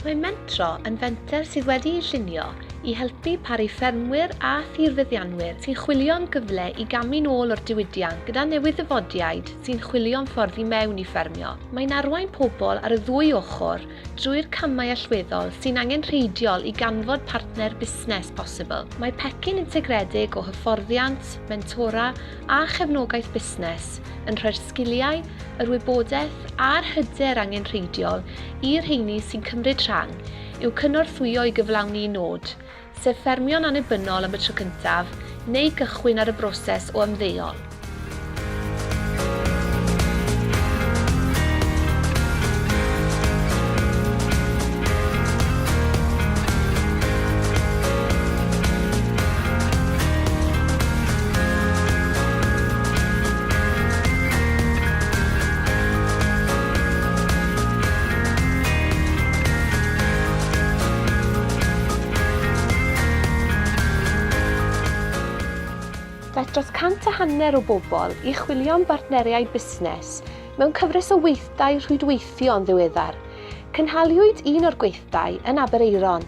Mae Mentro yn fenter sydd wedi'i llunio i helpu paru ffermwyr a thirfeddianwyr sy'n chwilio am gyfle i gamu'n ôl o'r diwydiant gyda newydd-ddyfodiaid sy'n chwilio am ffordd i mewn i ffermio. Mae'n arwain pobl ar y ddwy ochr drwy'r camau allweddol sy'n angenrheidiol i ganfod partner busnes posibl. Mae pecyn integredig o hyfforddiant, mentora a chefnogaeth busnes yn rhoi'r sgiliau, yr wybodaeth a'r hyder angenrheidiol i'r rheini sy'n cymryd rhan i'w cynorthwyo i gyflawni'u nod, sef ffermio'n annibynnol am y tro cyntaf neu gychwyn ar y broses o ymddeol. Daeth dros cant a hanner o bobl i chwilio am bartneriaid busnes mewn cyfres o weithdai rhwydweithio yn ddiweddar. Cynhaliwyd un o'r gweithdai yn Aberaeron.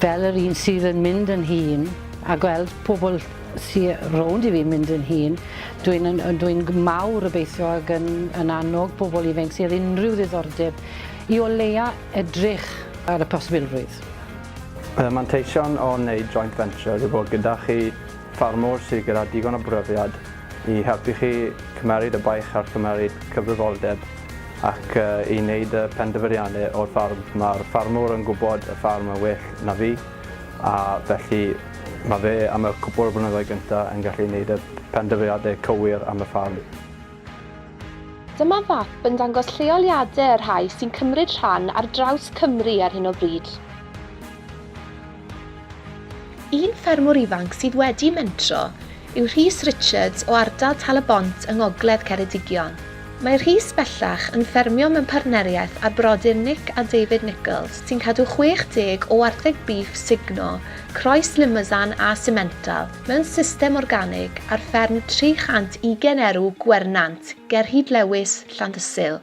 fel yr un sydd yn mynd yn hŷn a gweld pobl sy rownd i fi'n mynd yn hŷn, dwi'n yn, yn dwi'n mawr obeithio ag yn, yn annog pobl ifanc sydd unrhyw ddiddordeb i o leia edrych ar y posibilrwydd. Y manteision o wneud joint venture yw bod gyda chi ffarmwr sydd gyda digon o brofiad i helpu chi cymeryd y baich ar gymeryd cyfrifoldeb ac i wneud y penderfyniadau o'r ffarm. Mae'r ffarmwr yn gwybod y ffarm yn well na fi a felly mae fe am y cwpl o flynyddoedd gyntaf yn gallu wneud y penderfyniadau cywir am y ffarm. Dyma fap yn dangos lleoliadau y rhai sy'n cymryd rhan ar draws Cymru ar hyn o bryd. Un ffermwr ifanc sydd wedi mentro yw Rhys Richards o ardal Tal-y-bont yng ngogledd Ceredigion. Mae Rhys bellach yn ffermio mewn partneriaeth â brodyr Nick a David Nicholls sy'n cadw 60 o wartheg bîff sugno, croes Limousin a Simmental mewn system organig ar fferm 320 erw Gwernant ger Hyd Lewis, Llandysul.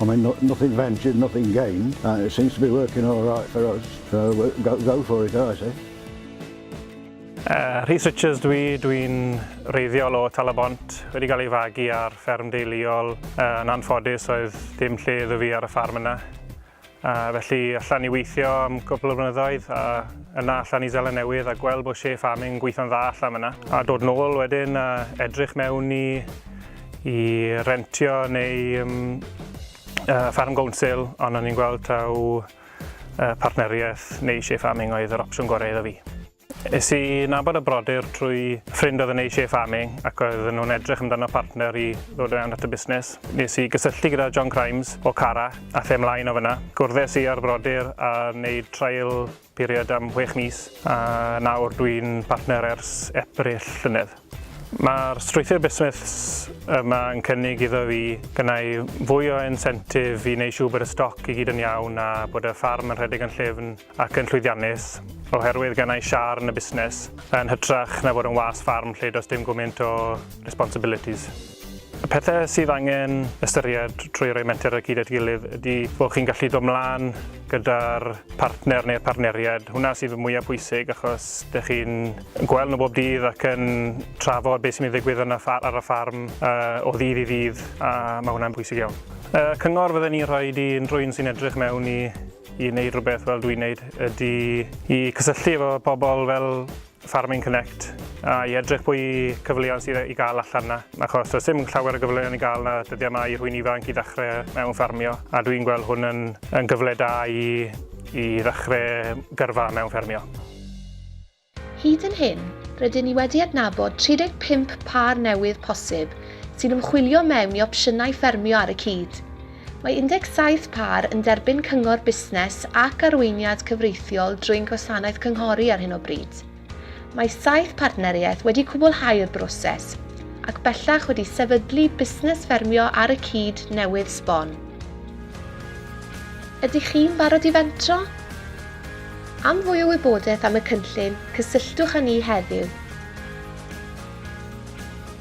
Ond mae no nothing ventured, nothing gained, and it seems to be working all right for us, so go go for it I say. Uh, Rhys Richards dwi, dwi'n reiddiol o Talabont, wedi cael ei fagu ar fferm deuluol. Uh, yn anffodus oedd dim lle iddo fi ar y ffarm yna. Uh, felly allan i weithio am gwbl o blynyddoedd a yna allan i Zelen Newydd a gweld bod Shea Farming yn gweithio'n dda allan yna. A dod nôl wedyn a edrych mewn i i rentio neu um, uh, farm gownsil, ond o'n i'n gweld taw uh, partneriaeth neu eisiau farming oedd yr opsiwn gorau iddo fi. Es i nabod y brodyr trwy ffrind oedd yn eisiau farming ac oedd nhw'n edrych amdano partner i ddod yn anad y busnes. Nes i gysylltu gyda John Crimes o Cara a lle mlaen o fyna. Gwrddais i ar brodyr a wneud trael period am chwech mis a nawr dwi'n partner ers Ebrill llynedd. Mae'r strwythur busnes yma yn cynnig iddo fi gynnau fwy o insentif i wneud siŵr bod y stoc i gyd yn iawn a bod y ffarm yn rhedeg yn llyfn ac yn llwyddiannus, oherwydd gennau siâr yn y busnes, yn hytrach na fod yn was ffarm lle does dim gwmynt o responsibilities. Y pethau sydd angen ystyried trwy roi menter ar gyd at gilydd ydy bod chi'n gallu dod mlaen gyda'r partner neu'r partneriad. Hwna sydd y mwyaf pwysig achos dych chi'n gweld nhw bob dydd ac yn trafod beth sy'n mynd i ddigwydd yn y ffar, ar y ffarm uh, o ddydd i ddydd a mae hwnna'n pwysig iawn. Y cyngor fydden ni'n rhoi i unrhyw un sy'n edrych mewn i i wneud rhywbeth fel dwi'n wneud ydy i cysylltu efo pobl fel Farming Connect a i edrych pwy cyfleon sydd i gael allan na, achos does dim llawer o gyfleon i gael na dyddiau yma i rhywun ifanc i ddechrau mewn ffarmio, a dwi'n gweld hwn yn, yn gyfle da i, i ddechrau gyrfa mewn ffermio. Hyd yn hyn, rydyn ni wedi adnabod 35 pâr newydd posib sy'n ymchwilio mewn i opsiynau ffermio ar y cyd. Mae 17 pâr yn derbyn cyngor busnes ac arweiniad cyfreithiol drwy'n gwasanaeth cynghori ar hyn o bryd. Mae saith partneriaeth wedi cwblhau'r broses, ac bellach wedi sefydlu busnes ffermio ar y cyd newydd sbon. Ydych chi'n barod i fentro? Am fwy o wybodaeth am y cynllun, cysylltwch â ni heddiw.